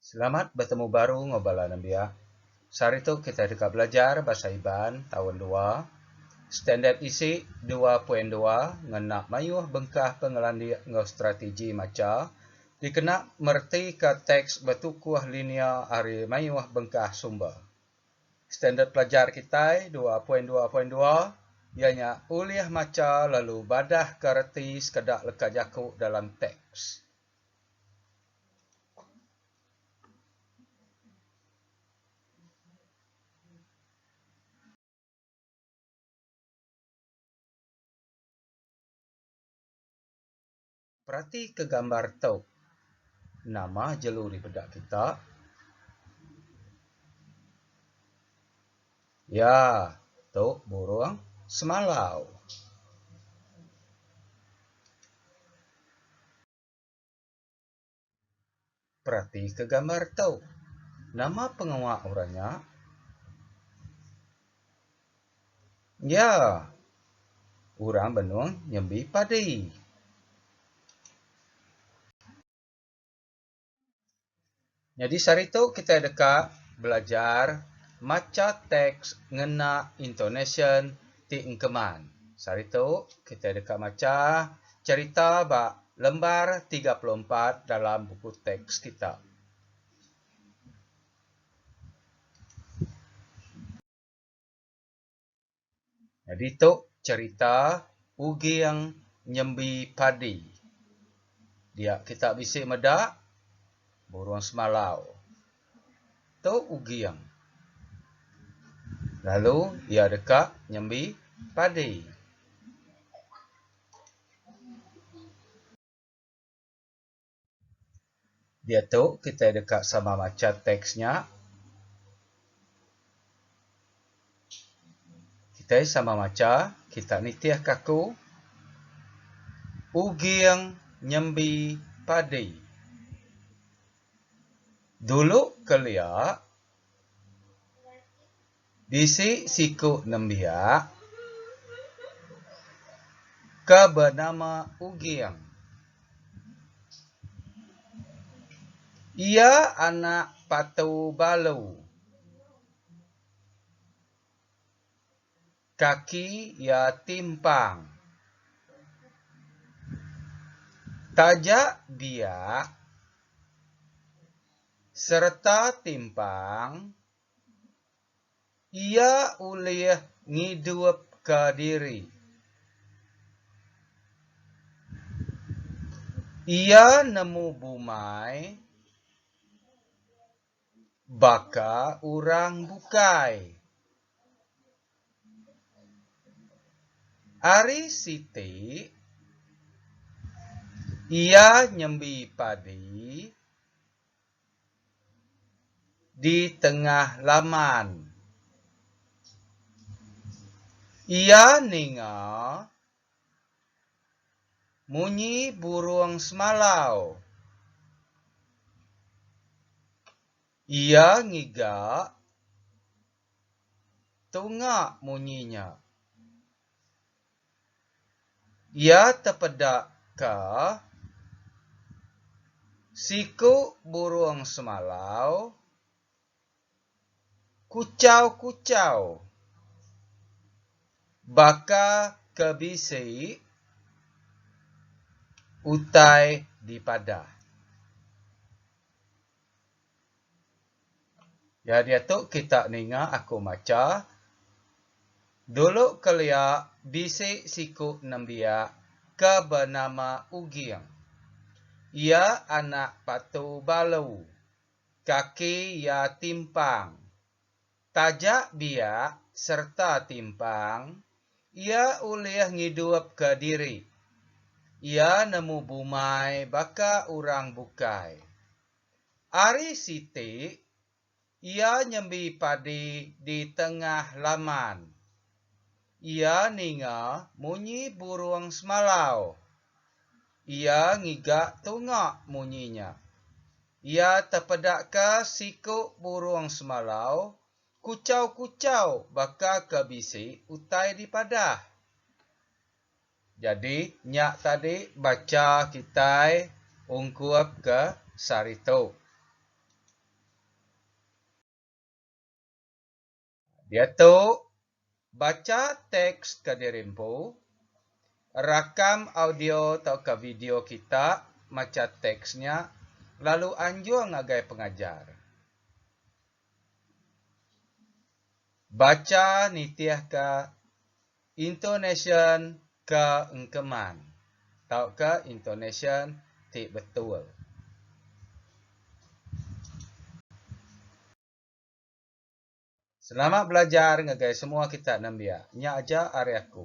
Selamat betemu baru enggau bala nembiak. Sehari tu kitai deka belajar Bahasa Iban Taun Dua, Standard Isi Dua Poin Dua ngena mayuh bengkah pengelandik enggau strategi macha dikena meretika teks betukuh linia ari mayuh bengkah sumber. Standard pelajar kitai Dua Poin Dua Poin Dua iya nya ulih macha lalu badahka reti sekeda leka jaku dalam teks. Peratika gambar tu. Nama jelu dipeda kita? Ya, tu burung semalau. Peratika gambar tu. Nama pengawa orang nya? Ya, orang benung nyembi padi. Nyadi sehari tu kitai deka belajar macha teks ngena intonasyen ti engkeman. Sehari tu kitai deka macha cherita ba lembar tiga puluh empat dalam buku teks kita. Ditu cherita Uging nyembi padi. Dia kita bisi meda burung semalau. Tu Uging. Lalu ia deka nyembi padi. Diatu kitai deka sama macha teks nya. Kitai sama macha, kita nitihka aku, Uging nyembi padi. Dulu kelia, Bisi siku nembiak ke benama Uging. Iya anak Patu Balu. Kaki iya timpang. Taja biak sereta timpang. Iya ulih ngidupka diri. Iya nemu bumai baka orang bukai. Ari siti, iya nyembi padi. di tengah laman. Iya ninga munyi burung semalau. Iya ngiga tunga munyi nya. Iya tepeda ka siku burung semalau kuchau-kuchau baka ke bisi utai dipadah. Ya diatu kita ninga aku macha, dulu kelia bisi siku nembiak ke benama Uging. Iya anak Patu Balu, kaki iya timpang. Taja biak sereta timpang, iya ulih ngidupka diri. Iya nemu bumai baka orang bukai. Ari siti, iya nyembi padi di tengah laman. Iya ninga munyi burung semalau. Iya ngiga tunga munyi nya. Iya tepedaka siku burung semalau kuchau-kuchau baka ke bisi utai dipadah. Jadi nya tadi bacha kitai ungkup ke sehari tu. Diatu bacha teks ke dirimpu, rakam audio tauka video kita macha teks nya lalu anjung ngagai pengajar. Bacha nitihka Intonasyen ke engkeman tauka intonasyen ti betul. Selamat belajar ngagai semua kita nembiak. Nya aja ari aku.